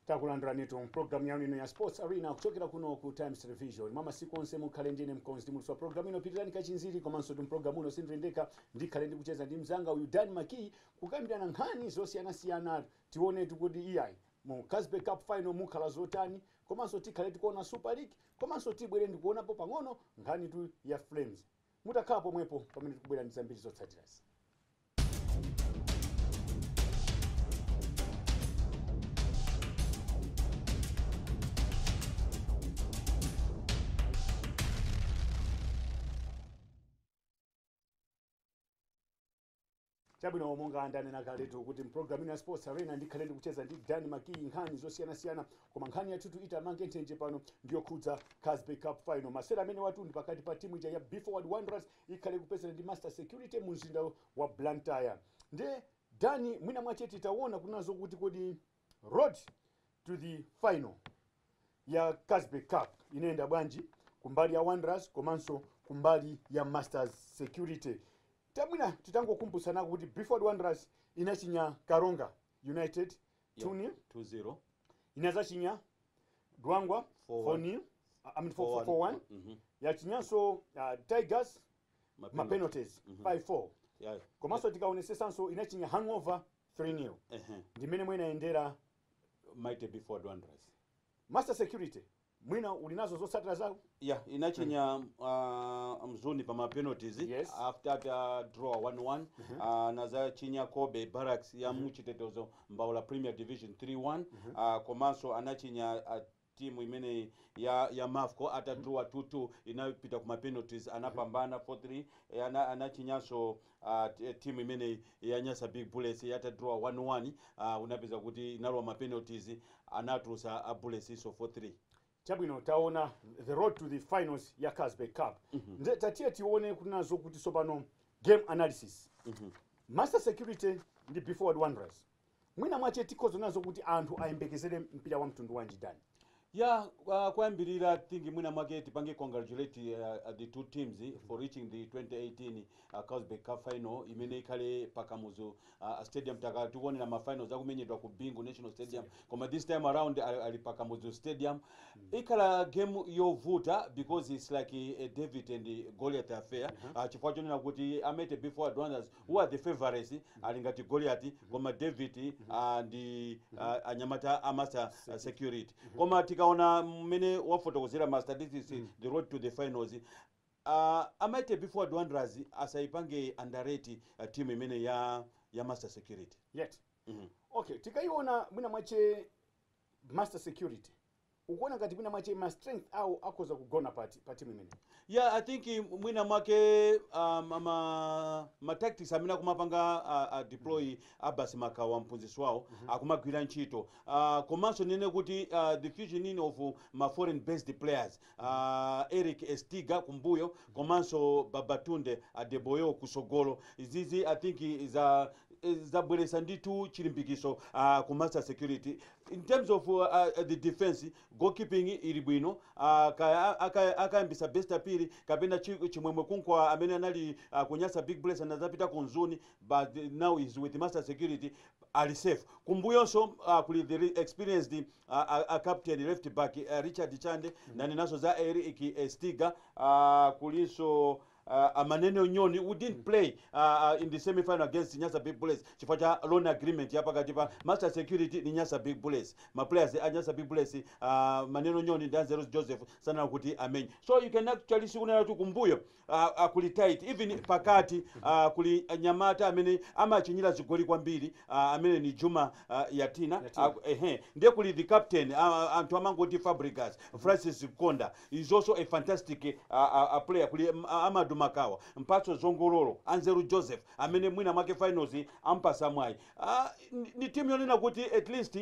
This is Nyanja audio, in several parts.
takulandiranitu mpulogalamu yanu ino ya sports arena kuchokera kuno ku times television mwa masiku onse mukhale ndine mkonzi ndi muulutsi wa pulogalamu ino pilirani kachinziri komansotu mpulogalamu uno sindili ndekha ndikhale ndikucheza ndi mzanga uyu dan makiyi kukambirana nkhani zosiyanasiyana tionetu kuti iyayi Mu Carlsberg Cup Final mukhala zotani komanso tikhale tikuona Super League komanso tibwere ndikuonapo pang'ono nkhanitu ya Flames mutakhala pomwepo pamene tikubwera ndi zambiri zotsatirazi. chabwino monga ndanena kaletu kuti mpulogalamu ino ya sports arena ndikhale ndikucheza ndi dan makiyi nkhani zosiyanasiyana koma nkhani yathutu itamange nthenje pano ndiyokhudza carlsberg cup final masewera amenewatu ndi pakati pa timu ija ya be forward wanderers ikhale kupezana ndi master security mu mzinda wa blantyre ndiye dani mwina mwache titaona kunena zokuti kodi Road to the final ya Carlsberg Cup inayenda bwanji kumbali ya Wanderers komanso kumbali ya Masters Security. Tamwina titangokumbutsanako kuti Be Forward Wanderers inachinya Karonga United 2-0, 2-0 inazachinya Dwangwa 4-0, I mean 4-1, 4-1. Mhm. yachinyanso uh, Tigers Mapenalty. mapenalties Mhm. 5-4 Yeah. komanso tikaonesesanso inachinya hangover 3 nil Ehe. ndi mmene mwina inayendera Mighty Be Forward Wanderers. master security mwina uli nazo zotsatira zawo Yeah, inachinya uh, mzuni pa ma penalties Yes. after the uh, draw 1-1 uh, nazachinya Cobbe Barracks ya mu Chitetezo Mbaula Premier Division 3-1 uh, komanso anachinya uh, team imeneyi ya ya mafco atadrawa 2 2 inapita kuma penalties anapambana 4 3 eh, ana, anachinyanso uh, t- eh, team imeneyi ya nyasa big bullets yatadrawa 1 1 uh, unapeza kuti inalowa ma penalties anatulusa a bulletsnso 4 3 chabwino taona the road to the finals ya carlsberg cup nde tatiye tione kunena zokuti sopano game analysis master security ndi be forward wanderers Mwina mwache tikhoza kunena zokuti anthu ayembekezere mpira wa mtundu wanji Dan? Yeah, uh, koyambirira I think mwina mwake tipange congratulate uh, the two teams for reaching the 2018 uh, Carlsberg Cup final imene ikhale pa Kamuzu uh, stadium takhala tikuonera ma finals akumenyedwa ku Bingu National Stadium koma this time around ali, ali pa Kamuzu Stadium ikhala game yovuta because it's like a, a David and Goliath affair uh, chifukwa chonena kuti a Mighty Be Forward Wanderers Who are the favourites ali ngati Goliati koma David aah and aah anyamata a Master security koma tikaona mmene wafotokozera ma statistics the road to the finals aah a Mighty Be Forward Wanderers asayipange underrate team imeneyi ya ya Master security yet mmmh. Okay, tikayiona mwina mwache. Master security ukuona ngati mwina mwache ma strength awo akhoza kugona pati pa team imeneyi? Yeah, I think mwina mwake um, ama, ma tactics amene akumapanga uh, uh, deploy mm -hmm. Abbas Makawa mphunzitsi wawo mm -hmm. akumagwira ntchito uh, komanso ndinene kuti uh, the fusion in of ma foreign based players a Eric Estiga kumbuyo komanso Babatunde Adeboyo kutsogolo izizi I think zabweretsa ndithu chilimbikiso uh, ku master security in terms of uh, the defense goalkeeping ili bwino uh, kaya aka- akayambitsa best Phiri kapena Chi- chimwemwe Kumkwawa amene anali uh, ku Nyasa big bullets anazapita ku Mzuni but now he's with master security ali safe kumbuyonso uh, kuli the re- experienced uh, uh, uh, captain left back uh, richard chande nanenanso za eric eh, stiga uh, kulinso uh, amanene onyoni who didn't play uh, uh, in the semifinal against nyasa big bullets chifukwa cha loan agreement ya pakati pa master security ni nyasa big bullets maplayers a nyasa big bullets uh, manene onyoni ndi anzeros joseph sanena kuti amenye so you can actually sikunena kuti kumbuyo Uh, uh, kuli tight even pakati uh, kuli mnyamata amene amachinyira zigoli kwambiri uh, amene ni Juma uh, Yatina, Yatina. Uh, ehe ndiye kuli the captain uh, anthu amangoti Fabregas Francis Mkonda is also a fantastic uh, uh, uh, player kuli um, Amadu Makawa mpatso zongololo Anzeru Joseph amene mwina mwake finals ampasa mwayi uh, ni timu yonena kuti at least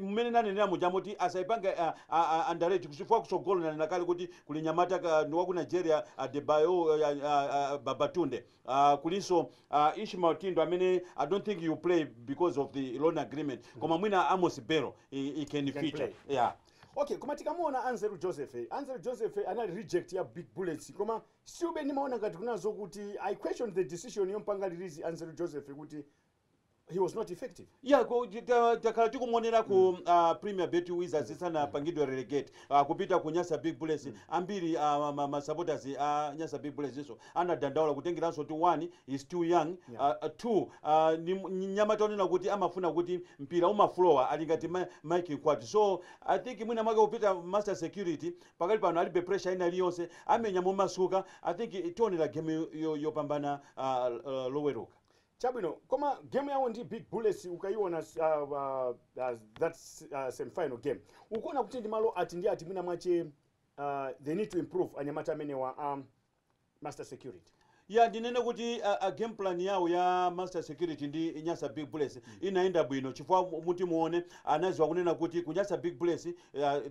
mmene nanenera muja moti asaipange uh, uh, underrate chifukwa kutsogolo nanena kale kuti kuli mnyamata ka- ndi waku nigeria adebayo uh, uh, uh, babatunde uh, kulinso uh, ishmael Thindwa amene i don't think he'll play because of the loan agreement koma mwina amos Bello i, i can, can feature play. yeah. okay koma tikamuona anzeru joseph eh, anzeru joseph eh, anali reject ya big bullets koma siube ndimaona ngati kunali zoti kuti i question the decision yompanga release anzeru joseph kuti he was not effective ya ko- ti- ta- takhala tikumuonera ku mm. uh, premier bet wizards isanapangidwe relegate uh, kupita ku nyasa big bullets mm. ambiri uh, ma- masupporters a uh, nyasa big bullets iwonso anadandaula kutengera zoti one he's too young yeah. uh, two uh, ni m- ni mnyamata wonena kuti amafuna kuti mpira uziflowa ali ngati ma- mike Mkwate so i think mwina mwake kupita master security pakali pano alibe pressure ina iliyonse amenya momasuka i think tionera game yo- yo- yopambana uh, uh, loweruka Chabwino koma game yawo ndi big bullets ukayiona uh, uh, that uh, semifinal game ukuona kuti ndi malo ati ndi ati mwina mwache uh, they need to improve anyamata amenewa um, master security ya ndinene kuti uh, a game plan yawo ya master security ndi nyasa big bullets mm. inayenda bwino chifukwa mutimuona anadziwa kunena kuti ku nyasa big bullets uh,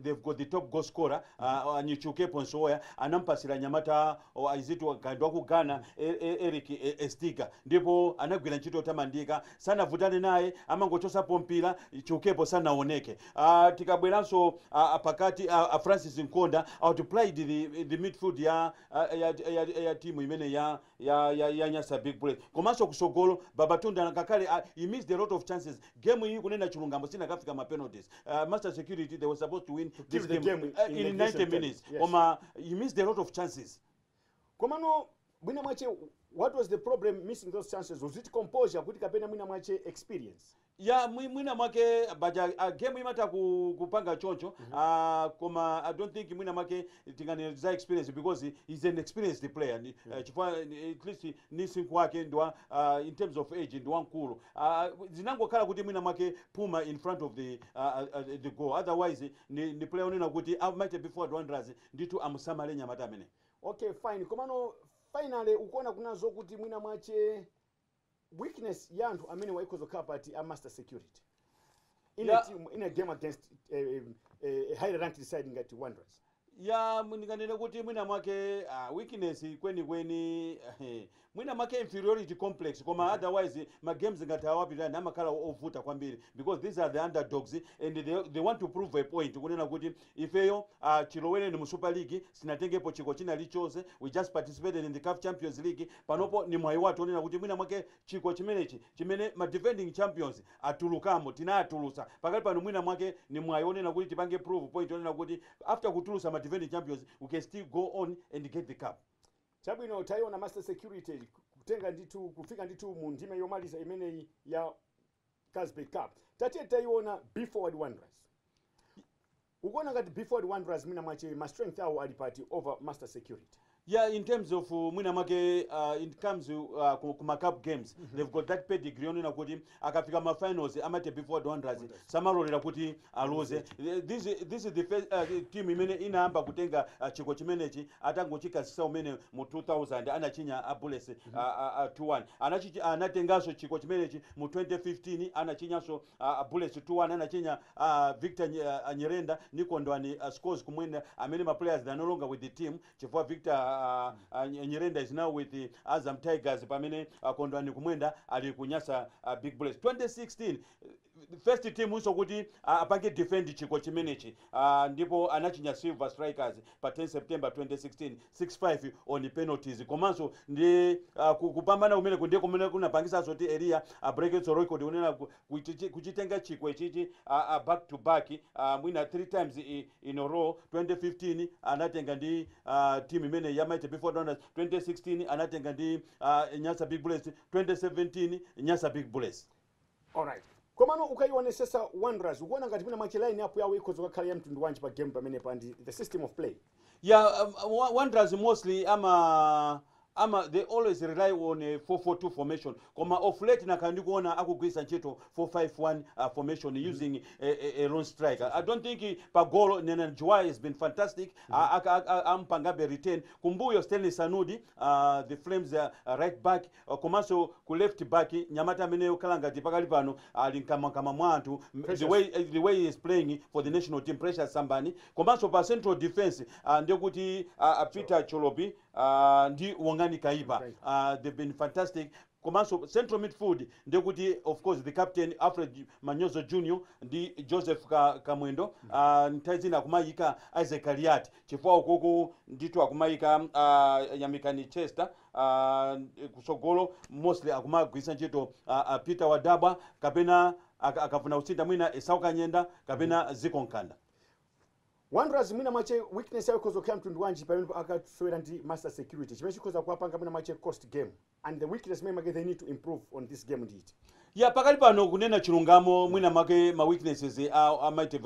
they've got the top goal scorer uh, mm. Chiukepo Msowoya anampatsira mnyamata o is it ka ndi wa ku Ghana, e, e, Eric e, Estiga ndipo anagwira ntchito yotamandika, sanavutane naye, amangochotsapo mpira, Chiukepo sanaoneke. A, tikabweranso a, a, pakati a, a Francis Mkonda outplayed the, the midfield ya, a, ya, ya, ya, ya timu imene ya, ya, ya, ya Nyasa Big Bullets komanso kusogolo Babatunde ngakhale a, he missed a lot of chances Game iyi kunena chilungamo sinakafika ma penalties. Uh, Master Security they were supposed to win this game, game uh, in, in 90 minutes. Yes. Koma you missed a lot of chances. Koma no mwina mwache what was the problem missing those chances was it composure kuti kapena mwina mwache experience ya mwina mwake baja uh, game imata ku, kupanga choncho mm -hmm. uh, koma i don't think mwina mwake tinganeza experience because he's an experienced player mm -hmm. uh, chifukwa at least ndi msinkhu wake ndi wa uh, in terms of age ndi wamkulu uh, zinangokhala kuti mwina mwake phuma in front of the, uh, uh, the goal otherwise ni, ni player onena kuti uh, mighty be forward wanderers ndithu amusamale nyamata amene okay fine komano finally ukuona kuna zokuti mwina mwache weakness ya anthu amenewa ikhoza kukhala pati a master security in Yeah. a team in a game against a, a, a higher ranked side ngati wanderers ya ndinganene kuti mwina mwake uh, weakness kwenikweni eh, mwina mwake inferiority complex koma otherwise ma games ngati awa Pilirani amakhala o- ovuta kwambiri because these are the underdogs and they, they want to prove a point kunena kuti ifeyo uh, chilowereni mu super league sinatengepo chikho china chilichonse we just participated in the caf champions league panopo ni mwayi wathu onena kuti mwina mwake chikho chimenechi chimene ma defending champions atulukamo tinawatulutsa pakali pano mwina mwake ni mwayi onena kuti tipange prove point yonena kuti after kutulutsa ma defending champions we can still go on and get the cup. Chabwino tayiona master security kutenga ndithu kufika ndithu mu ndime yomaliza imeneyi ya Carlsberg Cup tatiye tayiona Be Forward Wanderers. Ukuona ngati Be-Forward Wanderers mwina mwache ma strength awo ali pati over Master Security? Yeah, in terms of mwina mwake uh, in comes uh, ku, ku ma cup games mm -hmm. they've got that pedigree yonena kuti akafika ma finals a Mighty Be Forward Wanderers samalolera kuti aluze. This this is the first uh, team imene inayamba kutenga uh, chikho chimenechi atangochikhazikitsa kumene mu 2000 anachinya a Bullets uh, uh, uh, 2-1 anachi anatenganso chikho chimenechi mu 2015 anachinyanso a a bullets 2 1 anachinya a victor Nye- a- a nyirenda ni kondwani a scores kumwenda amene ma players they are no longer with the team chifukwa victor a, a, Nye- nyirenda is now with the azam tigers pamene a kondwani kumwenda ali ku nyasa a big bullets 2016 first team nso kuti a- apange defend chiko chimenechi a, ndipo anachinya silver strikers pa 10 September 2016 6-5 on penalties komanso ndi ah, ku- kupambana kumeneku ndiye kumene kunapangitsanso kuti Eliya abrekenso record yonena ku- kuchichi- kuchitenga chikho ichichi ah, ah, back to back ah, mwina 3 times i- in a row 2015 anatenga ndi ah, team imene ya Mighty Be Forward Wanderers 2016 anatenga ndi ah, Nyasa Big Bullets 2017 Nyasa Big Bullets alright komano ukaionesesa wanderers ukuona ngati mwina mwache line up yawo ikhoza kukakhala ya mtundu wanji pa game pamenepa and the system of play ya um, Wa- wanderers mostly ama ama they always rely on a 442 formation koma of late nakhala ndikuona akugwiritsa ntchito 451 uh, formation using a, a, a lone striker i don't think pa golo nenani juwaya has been fantastic A- aka- aka- ampangabe retain kumbuyo stanley sanudi uh, the flames uh, right back komanso ku left back mnyamata amene okhala ngati pakali pano ali nkamwankamwa mwa anthu the way the way he is playing for the national team precious sambani komanso pa central defense uh, ndiye kuti uh, peter cholopi uh, ndi wongani kaipa uh, they've been fantastic komanso central midfield ndiye kuti of course the captain alfred manyozo junior ndi joseph Ka, kamwendo uh, nthawi zina akumayika isaac kaliati chifukwa ukoko ndithu akumayika uh, yamikani chester uh, kusogolo mostly akumagwiritsa ntchito uh, uh, peter wadabwa kapena ak- akafuna kusintha mwina esau kanyenda kapena zicco mkanda wanderers mwina mwache weakness yawo ikhoza kukhala mtundu wanji pamene akasewera ndi masters security chimene chikhoza kuwapanga mwina mwache cost game and the weakness maybe they need to improve on this game ndi iti Yeah pakali pano kunena chilungamo mwina mwake ma weaknesses a a Mighty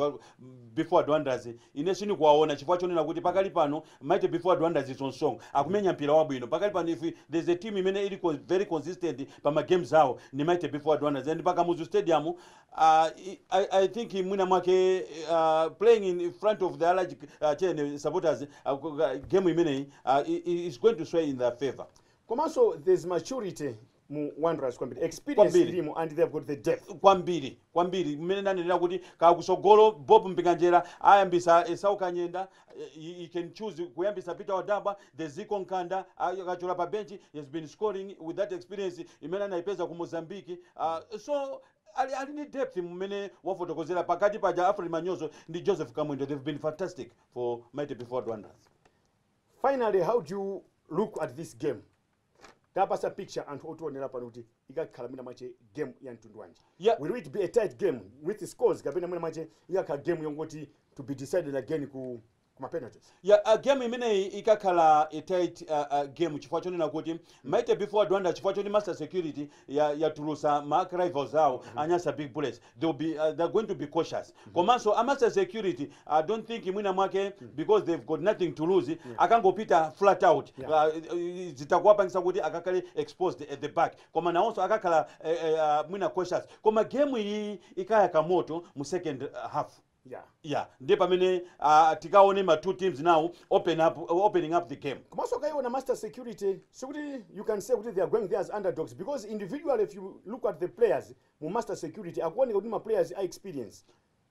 Be Forward Wanderers ine sindikuwaona chifukwa chonena kuti pakali pano Mighty Be Forward Wanderers is on song akumenya mpira wabwino pakali pano if there is a team imene ili con very consistent pa ma games awo ndi Mighty Be Forward Wanderers and pa Kamuzu Stadium uh, I, I think mwina mwake uh, playing in front of the large uh, chene supporters uh, game imeneyi uh, i- i- is going to sway in their favor Komanso there's maturity mu wanderers kwambiri experience Kwambiri. ilimo and they have got the depth kwambiri kwambiri mmene ndanenera kuti kakusogolo bob mpinganjira ayambisa esau kanyenda eh, he, he can choose kuyambisa peter wadabwa the zicco mkanda ay- akachokera pa bench he has been scoring with that experience imene anayipeza ku mozambique uh, so ali, ali ni depth mmene wafotokozera pakati paja alfred manyozo ndi joseph kamwendo they've been fantastic for mighty be forward wanderers finally how do you look at this game tapasa picture anthu otionera pano kuti ikakhala mwina mwache game ya mtundu wanji Yeah. will it be a tight game with scores kapena mwina mwache ikakhala game yongoti to be decided again ku kuma penalties ya uh, game imeneyi ikakhala a tight uh, uh, game chifukwa chonena kuti mighty be forward wanderers chifukwa choti masters security ya yatulusa ma arch rivals awo a Nyasa Big Bullets they will be uh, they are going to be cautious komanso a Masa Security I don't think mwina mwake because they've got nothing to lose akangopita flat out Yeah. uh, uh, zitakuwapangisa kuti akakhale exposed at the back koma nawonso akakhala eh, eh, uh, mwina cautious koma game iyi ikayaka moto mu second uh, half yeah yeah ndiye pamene uh, tikaone ma two teams now open up, uh, opening up the game komanso kaiona master security sikuti you can say kuti they are going there as underdogs because individually if you look at the players mu master security akuoneka kuti ma players a experience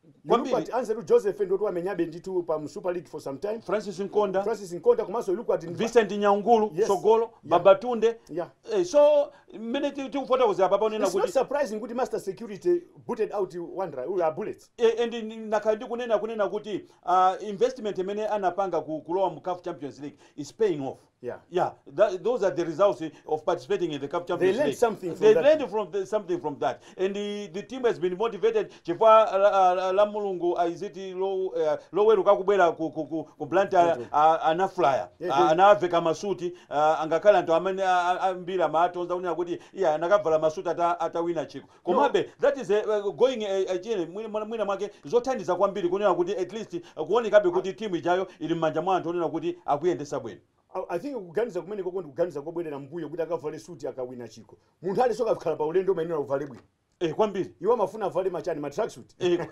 you look Kwambiri. at anzeru joseph ndoti wamenyabe ndithu pa mu super league for some time francis nkonda francis nkonda komanso you look at vincent nyaungulu Yes. sogolo babatunde Yeah. eh, so mmene ti- tikufotokozera papa unena it's not kuti surprising kuti master security booted out wanderer uh, bullets E, and nakhala ndikunena kunena kuti uh, investment imene anapanga ku, kulowa mu CAF Champions League is paying off yeah, yeah that, those are the results of participating in the CAF Champions League they learned something from that. they learned from the, something from that and the, the team has been motivated chifukwa uh, uh, lamulungu uh, is it low uh, loweruka kubwera ku, ku, ku, ku Blantyre mm -hmm. uh, anaflyer yeah, uh, anawaveka masuti uh, angakhale anthu amene ambiri uh, amawatonza kunena kuti iya anakavala masuti atawina ata chikho Komabe, that is a, a going a, a chiyeni, mwina, mwina- mwina mwake zothandiza kwambiri kunena kuti at least uh, kuonekabe kuti timu ijayo ili m'manja mwa anthu onena kuti akuyendesa bwino. I- I think kuganiza kumenekoko ndi kuganiza kobwerera mbuyo kuti akavale suti akawina chikho. Munthu aliyense akakhala pa ulendo umayenera uvale bwino. Eh, kwambiri Iwo amafuna avale machani ma tracksuit. Eh,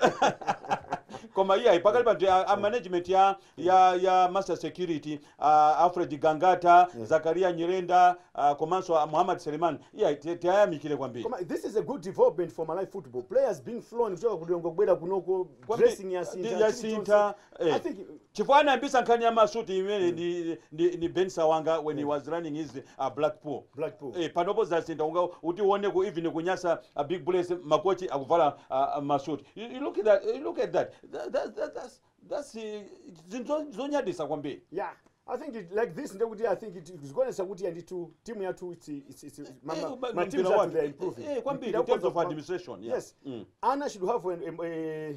koma iyayi pakali pano a, a management ya, ya, ya master security a Alfred Gangata, Yeah. Zacharia Nyirenda, ah, komanso a Muhammad Selemani. Iya ti- tiayamikire kwambiri. Koma this is a good development for Malawi football. Players being flown kuchoka ku Lilongwe kubwera kunoko Kwambiri, dressing ndi- yasintha chili yasintha, chonse. eh. I think Chifukwa anayambisa nkhani ya masuti imene ndi, ndi, ndi Ben Sawanga when he was running his uh, Blackpool. Blackpool. Eh, panopo zasintha unga uti uone ku even ku Nyasa Big Bullets makochi akuvala uh, masuti. You, you look at that, you look at that. That, that, that, that's, That's eh, zinthu zo- zonyadisa kwambiri yeah i think it, like this ndekuti i think it- zikuonesa kuti ya ndithu timu yathu it's, it's, it's, ma, Eh, ma, ba- ma teams mpira athu wake. they are improving Eh, eh, kwambiri, Mpira in terms of uko- administration, yeah. yes Mm. ana should have an, em- eh,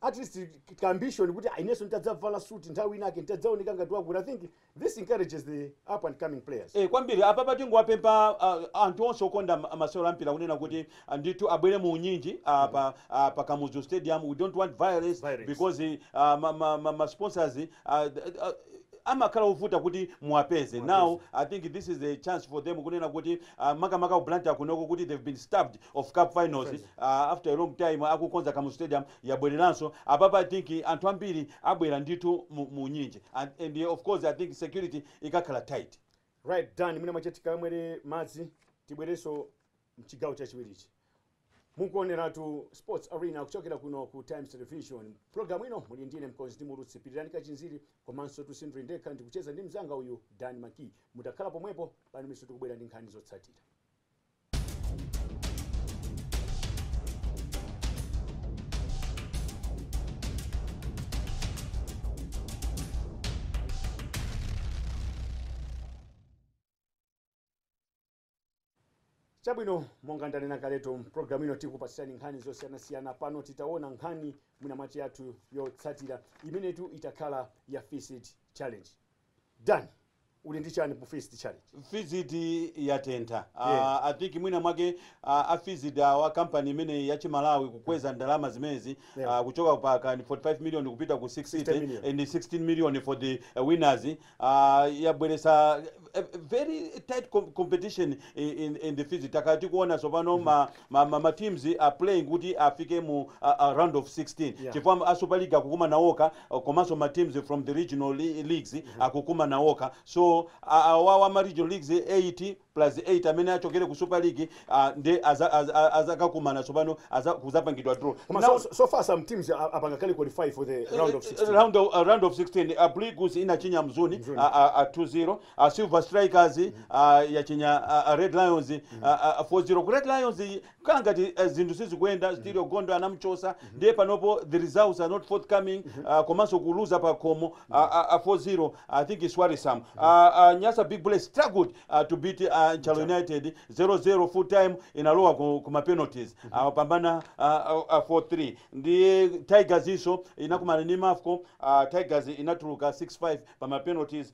at least ka ambition kuti inenso nditadzavala suit nthawi inake nditadzaoneka ngati wakuti i think This encourages the up and coming players. Eh, kwambiri apapa tingowapempha ah, anthu onse okonda ma- masewero a mpira kunena kuti ah, ndithu abwere mu unyinji ah, pa, ah, pa kamuzu stadium we don't want violence, Violence. because ah, ma, ma, ma, ma sponsors ah, d- ah, amakhala ovuta kuti muwapeze now i think this is a chance for them kunena kuti ah, makamaka ku blantyre kunoko kuti they've been starved of cup finals ah, after a long time akukonza kamuzu stadium yabwereranso apapa i think anthu ambiri abwera ndithu mu mu unyinji and and of course i think security ikakhala tight. Right Dan, mwina mwache tikamwere madzi tibwerenso mchigawo chachiwirichi. Mukuoneratu Sports Arena kuchokera kuno ku Times Television. Programu ino muli ndine mkonzi ndi muulutsi Pirirani Kachinziri komansotu sindili ndekha ndikucheza ndi mzanga uyu Dan Maki. Mutakhala pomwepo pano miso tikubwera ndi nkhani zotsatira. chabwino monga ndanena kaletu mpulogalamu ino tikupatsirani nkhani zosiyanasiyana pano titaona nkhani mwina mwache yathu yotsatira imenetu itakhala ya FISD challenge Dan uli ndi chani mu FISD challenge? FISD yatentha a Yeah. I think mwina mwake a, a FISD awa company imeneyi ya chimalawi kukweza ndalama zimenezi Yeah. a, kuchoka pa kani 45 million kupita ku 60 60 million. and 16 million for the uh, winners a, yabweresa eh, very tight com- competition in, in, in the FISD takhala tikuona tsopano ma ma ma ma teams are playing kuti afike mu a, a round of 16 Yeah. chifukwa a super league akukumana okha uh, komanso ma teams from the regional le- leagues akukumana okha so a- awawa ma regional leagues 8 plus 8 amene achokere ku super league uh, nde aza- aza- aza- azakakumana tsopano aza- kuzapangidwa draw Koma Now- so, so, so far some teams are, apanga kale qualify for the round of 16. round of, uh, round of 16 uh, Blue Eagles inachinya mzuni Mzuni. uh, uh, uh, 2-0 a silver strikers a yachinya a, a red lions a, a, a 4-0 ku red lions iyi kukhala ngati eh, zinthu sizikuyenda sterio gondo anamchosa ndiye panopo the results are not forthcoming ah, komanso kuluza pa khomo a, a, a 4-0 i think is worrisome a, a nyasa big bullets struggled ah, to beat ah, nchalo united 0-0 full time inalowa ku, ku ma penalties apambana ah, ah, ah, 4-3 ndiye tigers iso inakumana ndi mafco ah, tigers inatuluka 6-5 pa ma penalties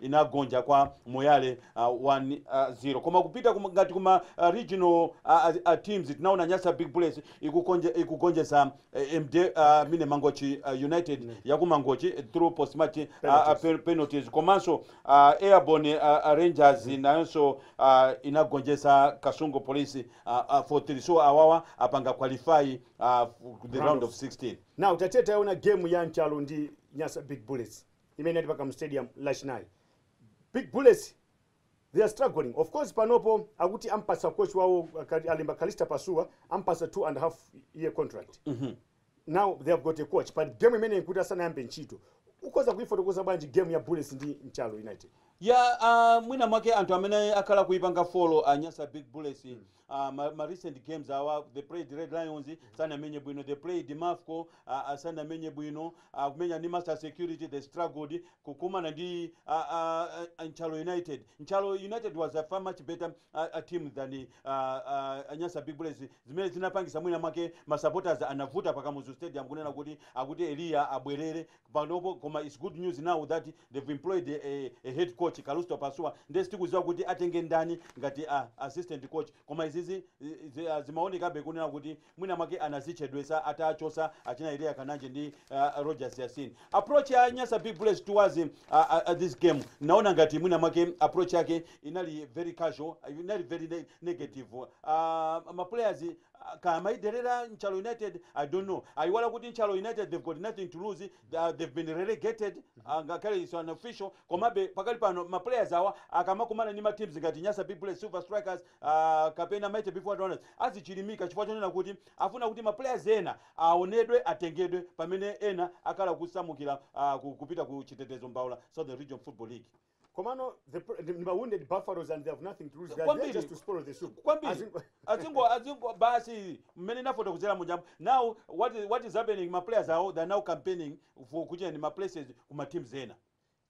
inagonja kwa moyale 1 0 koma kupita kuma, ngati kuma uh, regional uh, uh, teams tinaona nyasa big bullets ikukonje, ikugonjesa uh, md uh, mine mangochi uh, united mm. yakumangochi eh, through post match uh, uh, pe- penalties komanso uh, airborne uh, uh, rangers mm. nayonso uh, inagonjesa kasungu police uh, uh, 4-3 so awawa apanga qualify uh, f- the round of 16 now tatete aona game ya nchalo ndi nyasa big bullets imene inali pa Kamuzu stadium lachinayi. Big bullets they are struggling of course panopo akuti ampatsa coach wawo Kali- alemba Calista Pasuwa ampatsa two and a half year contract now they have got a coach but game imene nkuti asanayambe ntchito ukhoza kuifotokoza bwanji game ya bullets ndi nchalo united ya ah, mwina mwake anthu amene akhala kuipanga follow a nyasa big bullets aah ma ma recent games awa they played red lions sanamenye bwino they played mafco aah sanamenye bwino akumenya ndi master security they struggled kukumana ndi aah nchalo united nchalo united was a far much better aah team than aah nyasa big bullets zimene zinapangisa mwina mwake ma supporters anavuta pa kamuzu stadium kunena kuti akuti eliya abwerere panopo koma its good news now that they've employed a, a, a head coach Calisto Pasuwa ndiye sitikuziwa kuti atenge ndani ngati a, assistant coach koma izizi eh, zi- ah, zimaonekabe kunena kuti mwina mwake anazichedwesa atachosa achina Elia Kananji ndi uh, Rogers Yasin approach ya Nyasa Big Bullets towards uh, uh, this game naona ngati mwina mwake approach yake inali very casual inali very ne negative uh, ma players ah kaya amayidelera nchalo united i don't know ayiwala kuti nchalo united they've got nothing to lose ah they've been relegated ah ngakhale is unofficial komabe pakali pano ma players awa akamakumana ndi ma teams ngati nyasa big bullets silver strikers ah kapena mighty be forward wanderers azichilimika chifukwa chonena kuti afuna kuti ma players ena awonedwe atengedwe pamene ena akhala kusamukira ah kupita ku chitetezo mbaula southern region football league komano the pro- ndi ma wounded buffaloes and they have nothing to lose they are there Kwambiri. just to spoil the soup kwambiri As in- azingo azingo basi mmene nafotokozera muja Yambo now what is, what is happening ma players awo they are now campaigning for kuchera ndi ma places ku ma teams ena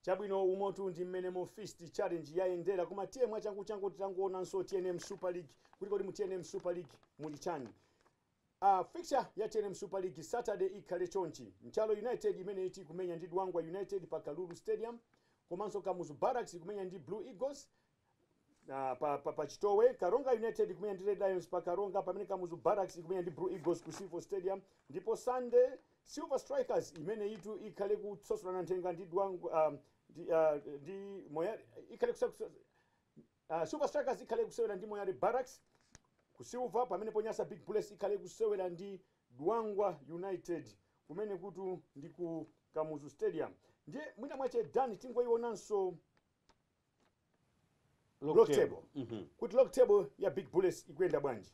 chabwino umotu ndi mmene mu fisd challenge yayendera koma tiye mwachanguchangu titangoonanso tnm super league kuti kodi mu tnm super league muli chani A Fixture ya tnm super league Saturday ikhale chonchi, Nchalo United imeneyitu ikumenya ndi Dwangwa United pa Kalulu Stadium komanso Kamuzu Barracks ikumenya ndi Blue Eagles ah, pa, pa, pa Chitowe, Karonga United ikumenya ndi Red Lions pa Karonga pamene Kamuzu Barracks ikumenya ndi Blue Eagles ku Civo Stadium ndipo Sunday Silver Strikers imeneyitu ikhale kusosolana nthenga ndi Dwangwa ah, ndi, ah, ndi Moyale ikhale kusa- kusa- Silver Strikers ikhale ikusewera ndi Moyale Barracks ku Silver pamenepo Nyasa Big Bullets ikhale ikusewera ndi Dwangwa United kumenekutu ndi ku Kamuzu Stadium. Ndiye mwina mwache Dan tingoionanso log table kuti log table ya Big Bullets ikuyenda bwanji.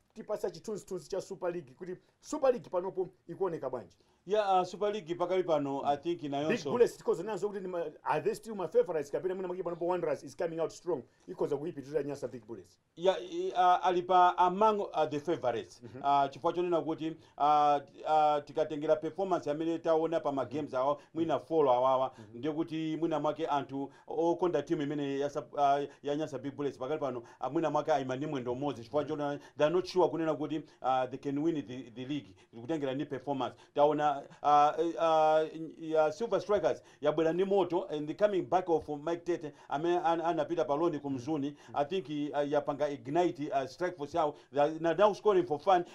tipatse chithunzithunzi cha super league kuti super league panopo ikuoneka bwanji yeah uh, super league pakali pano i think nayonso big bullets tikhoza kunena kuti ndi ma- are they still my favorites kapena mwina mwake panopo wanderers is coming out strong ikhoza kuyipitirira nyasa big bullets yeah i- uh, ali pa among uh, the favorites uh, chifukwa chonena kuti aah aah tikatengera performance yamene taona pa ma games awa mwina 4 awawa ndiye kuti mwina mwake anthu okonda team imeneyi ya sub aah ya nyasa big bullets pakali pano mwina mwake ayima ni mwendo umodzi chifukwa choti they are not sure kunena kuti aah they can win the the league kutengera ndi performance taona aah aah silver strikers yabwera ndi moto and the coming back of Mike Tete amene an anapita pa loan ku Mzuni I think i uh, yapanga ignite uh, strike force yawo they are na- now scoring for fun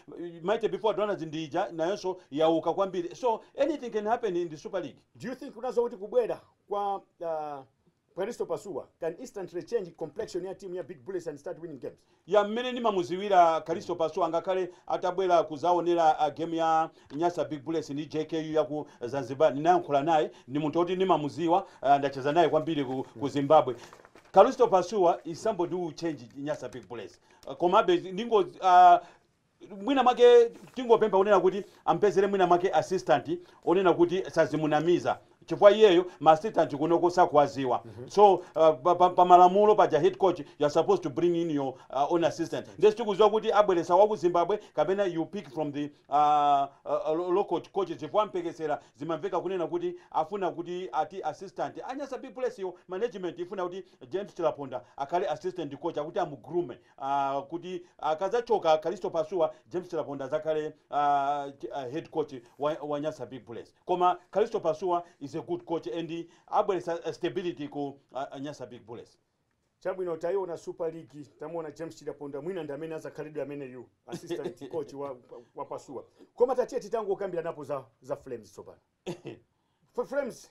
Mighty before Donalds ndi ija nayonso yauka kwambiri so anything can happen in the Super League Do you think unazo kuti kubwera kwa uh, Paristo Pasuwa can instantly change complexion ya team ya Big Bullets and start winning games? Yeah mmene ndimamuziwira Kalisto Pasuwa ngakhale atabwera kuzawonera game ya Nyasa Big Bullets ndi JKU yaku Zanzibar ndinayankhula naye ndi munthu oti ndimamuziwa ndacheza naye kwambiri ku, ku Zimbabwe Kalisto Pasuwa is somebody who will change Nyasa Big Bullets komabe ndingo uh, mwina mwake tingopempha kunena kuti ampezere mwina mwake assistant onena kuti sadzimunamiza chifukwa iyeyo ma assistant kunoko sakuwaziwa so uh, pa, pa, pa malamulo paja head coach you are supposed to bring in your uh, own assistant ndiye sitikuziwa kuti abweresa wa ku zimbabwe kapena you pick from the uh, uh, lo- local coaches chifukwa mphekesera zimamveka kunena kuti afuna kuti ati assistant a nyasa big bullets yo management ifuna kuti james chilapondwa akhale assistant coach akuti amu-groome uh, kuti akadzachoka uh, Kalisto Pasuwa James Chilapondwa adzakhale uh, uh, head coach wa, wa Nyasa Big Bullets koma Kalisto Pasuwa is a good coach and abweretsa uh, stability ku uh, uh, Nyasa Big Bullets chabwino tayiona super league tamuona james chilapondwa mwina ndi amene azakhalenso ameneyu assistant coach wa, wa pasuwa koma tatiyeni tingokambiranapo za, za flames tsopano flames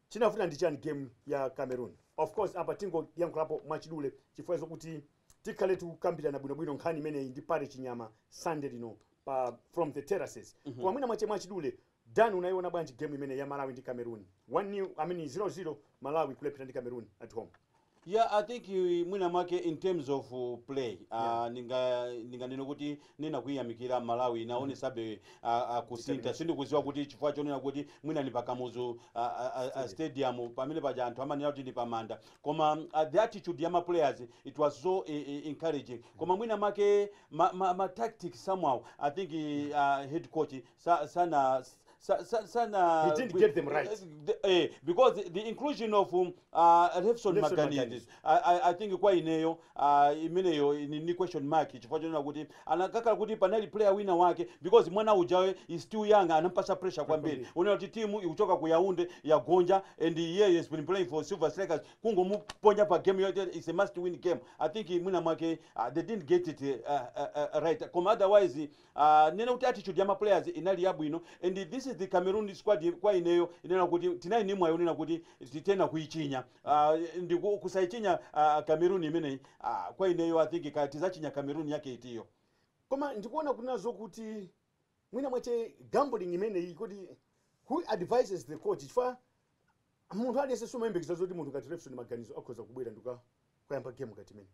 Chinavuta ndi chani game ya Cameroon? Of course apa tingoyankhulapo mwachidule chifukwa chokuti tikhale tikukambirana bwinobwino nkhani imeneyi ndi Parry Chinyama Sunday lino pa From the Terraces. Koma mwina mwache mwachidule, Dan unaiona bwanji game imeneyi ya Malawi ndi Cameroon? 1 nil, I mean 0-0 Malawi kulepherana ndi Cameroon at home. Yeah, I think you, mwina mwake in terms of uh, play uh, yeah. ninga ninganene kuti ndinakayamikira Malawi inaonesabe mm -hmm. uh, uh, kusintha sindikuziwa kuti chifukwa chonena kuti mwina ni pa Kamuzu uh, uh, uh, stadium pamene paja anthu amanena kuti ni pamanda koma uh, the attitude ya ma players it was so uh, encouraging koma mwina mwake ma, ma, ma tactics somehow I think uh, head coach sa, sana sa, sa, sana He didn't be- get them right. eh, the- eh, because the inclusion of um, uh, Lefson Lefson Maganizo Maganizo. I, I, I think kwa ineyo uh, imeneyo ni, ni question mark chifukwa chonena kuti anakakhala kuti panali player wina wake because mwana ujawe is still young anampasa pressure kwambiri kwambiri. unaona kuti timu ikuchoka ku Yaounde yagonja and iye has been playing for Silver Strikers kungomuponya pa game yoti it's a must win game I think mwina mwake uh, they didn't get it uh, uh, uh, right koma otherwise Aaa ndinene kuti attitude ya ma players inali yabwino and this is the Cameroon squad kwa ineyo inena kuti tinali ndi mwayi onena kuti tithana kuichinya aah ndi kusaichinya aah Cameroon imeneyi aah kwa ineyo I think kaya tizachinya Cameroon yake itiyo. Koma ndikuona kunena zokuti mwina mwache gambling imeneyi kodi who advises the coach chifukwa munthu aliyense sumayembekeza zoti munthu ngati Lefson Maganizo akhoza kubwera ndikuka- kukayamba game ngati imeneyi.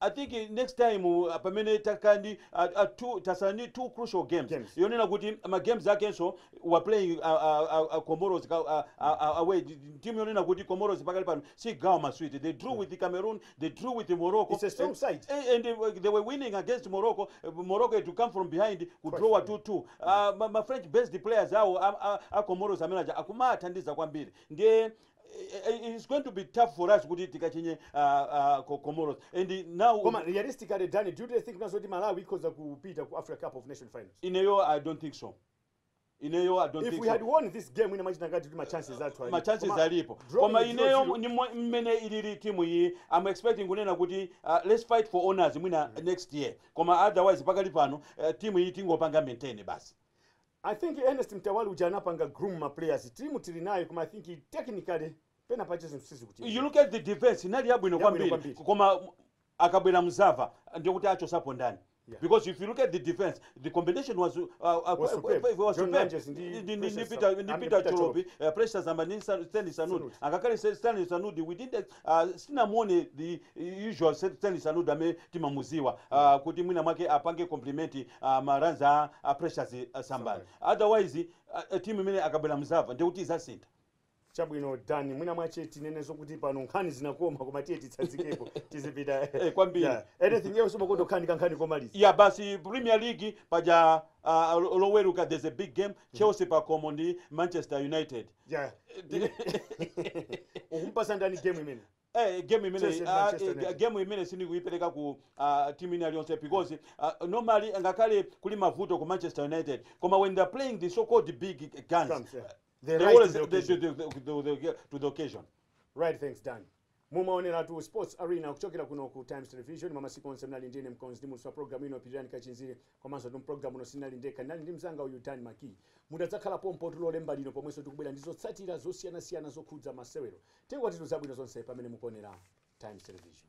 I think next time pamene takhala ndi tasala ndi two crucial games yonena kuti ma games akenso we are playing comoros away team yonena kuti comoros pakali pano sigawa maswiti they drew with cameroon they drew with morocco It's a strong side. and they were winning against morocco morocco had to come from behind kudrowa 2-2 uh, ma, ma french based players awo a, a, a comoros amene aja akumathandiza kwambiri ndiye it's going to be tough for us kuti tikachinye uh, uh, comoros and now koma realistically dani do you think nazo kuti malawi ikhoza kupita ku africa cup of nation finals ineyo i don't think so ineyo i don't if think we so. had won this game ndimachita ngati kuti ma chances athu ali- machances koma alipo drawing koma zero ineyo zero- ni mwe- mmene ilili timu iyi i'm expecting kunena kuti uh, let's fight for honors mwina next year koma otherwise pakali pano uh, timu iyi tingopanga maintain basi I think Ernest Mtawali uja anapanga groom ma players. Team tili nayo koma I think technically pena pache zinthu sizikutiyenda. You look at the defense inali yabwino kwambiri. Yabwino kwambiri. Koma akabwera mzava ndiye kuti achosapo ndani? Yeah. Because if you look at the defense, the combination was uh, uh, was superb. Was John superb. Lanjesi, ndi, ndi, ndi, ndi Peter, ndi Peter Cholopi, uh, Precious Sambani, Stanley Sanudi. Ngakhale Stanley Sanudi, we didn't Uh, sitinamuone the usual Stanley Sanudi amene timamuziwa uh, kuti mwina mwake apange complement uh, ma runs a, a Precious uh, Sambani otherwise uh, timu imene akabwera mzava ndiye kuti izasintha chabwino dan mwina mwache tinene zokuti pano nkhani zinakoma koma tiye titsazikepo tizipita Eh, kwambiri. Yeah. anything else umakonda kukhani kankhani komaliza ya basi premier league paja uh, loweruka there's a big game chelsea pakomo ndi manchester united Ja. Ukumpasa ndani game imene? Eh, game imene Chelsea ndi ah, Manchester eh, United. game imene sindikuipereka ku ah, team ina yonse because ah, normally ngakhale kuli mavuto ku Manchester United koma when they are playing the so called big guns Comes, yeah. they The rise always to the they- occasion. they- they- they- they- they- to the occasion Right, thanks Dan. Mumaoneratu Sports Arena kuchokera kuno ku Times Television mwa masiku onse munali ndi ine mkonzi ndi muulutsi wa program ino Pilirani Kachinziri komanso tu mu program ino sinali ndekha ndinali ndi mzanga uyu Dan Maki mudzakhale pompo tu Lolemba lino pomwenso tikubwera ndi zotsatira zosiyanasiyana zokhudza masewero tengatitu zabwino zonse pamene mukuonera Times Television